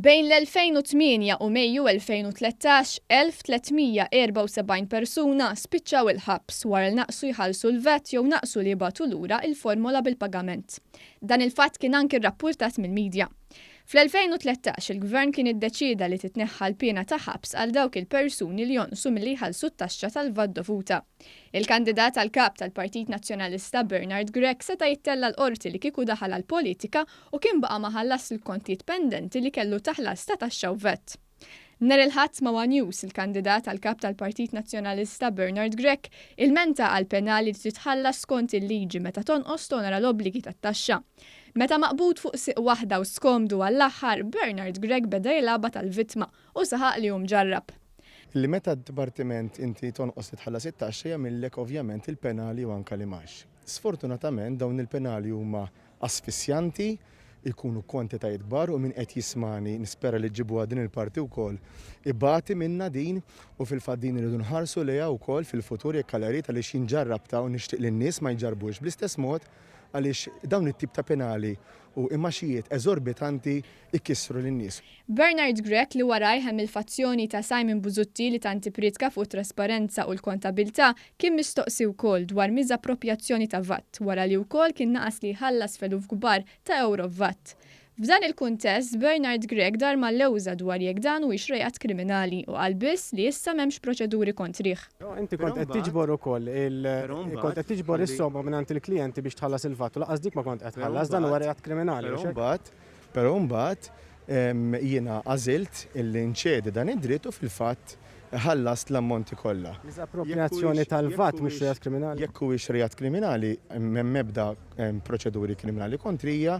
Bejn l-2008 u Mejju 2013, 1,374 persuna spiċċaw il-ħabs wara li naqsu jħallsu l-VAT jew naqsu li jibgħatu lura il-formola bil-pagament. Dan il-fatt kien anki rrappurtat mill-midja. Fl-2013, il-Gvern kien iddeċieda li titneħħa l-piena ta' ħabs għal dawk il-persuni li jonqsu milli jħallsu t-taxxa tal-VAT dovuta. Il-kandidat għal Kap tal-Partit Nazzjonalista Bernard Grech seta' jittella' l-Qorti li kieku daħal għall-politika u kien baqa' ma ħallasx l-kontijiet pendenti li kellu ta' ħlas ta' taxxa u vat. Nhar il-Ħadd ma' one News, il-kandidat għal Kap tal-Partit Nazzjonalista Bernard Grech ilmenta għal penali li titħallas skont il-liġi meta tonqos tonora l-obbligi tat-taxxa. Meta maqbud fuq sieq waħda u skomdu għall-aħħar, Bernard Grech beda jilgħabha tal-vittma Hu saħaq li hu mġarrab. Li meta d-dipartiment inti tonqos li tħallas it-taxxa jagħmillek ovvjament il-penali u anke l-imgħax. Sfortunatament dawn il-penali huma asfissjanti, ikunu kwantitajiet kbar u min qed jismagħni, nispera li ġġibuha din il-parti wkoll, ibati minnha din u fil-fatt din irridu nħarsu lejha wkoll fil-futur jekk Alla jrid għaliex jien ġarrabtha u nixtieq li n-nies ma jġarrbux bl-istess mod għaliex dawn it-tip ta' penali u imgħaxijiet eżorbitanti ikissru lin-nies. Bernard Grech li warajh hemm il-fazzjoni ta' Simon Busuttil li tant ippriedka fuq it-trasparenza u l-kontabilità, kien mistoqsi wkoll dwar miżapproprjazzjoni ta' vat, wara li wkoll kien naqas li jħallas f'eluf kbar ta' ewro f'vat. F'dan il-kuntest, Bernard Grech dar mal-lewża dwar jekk dan huwiex reat kriminali u qal biss li issa m'hemmx proċeduri kontrih. Però inti kont qed tiġbor ukoll il, kont qed tiġbor is-somma mingħand il-klijenti biex tħallas il-vat u lanqas dik ma kont qed tħallas, dan huwa reat kriminali, mhux hekk? Però mbagħad jiena għażilt illi nċedi dan id-dritt u fil-fatt ħallast l-ammonti kollha. L-iżapproprjazzjoni tal-VAT mhux reat kriminali? Jekk huwiex reat kriminali, m'hemm ebda proċeduri kriminali kontrija.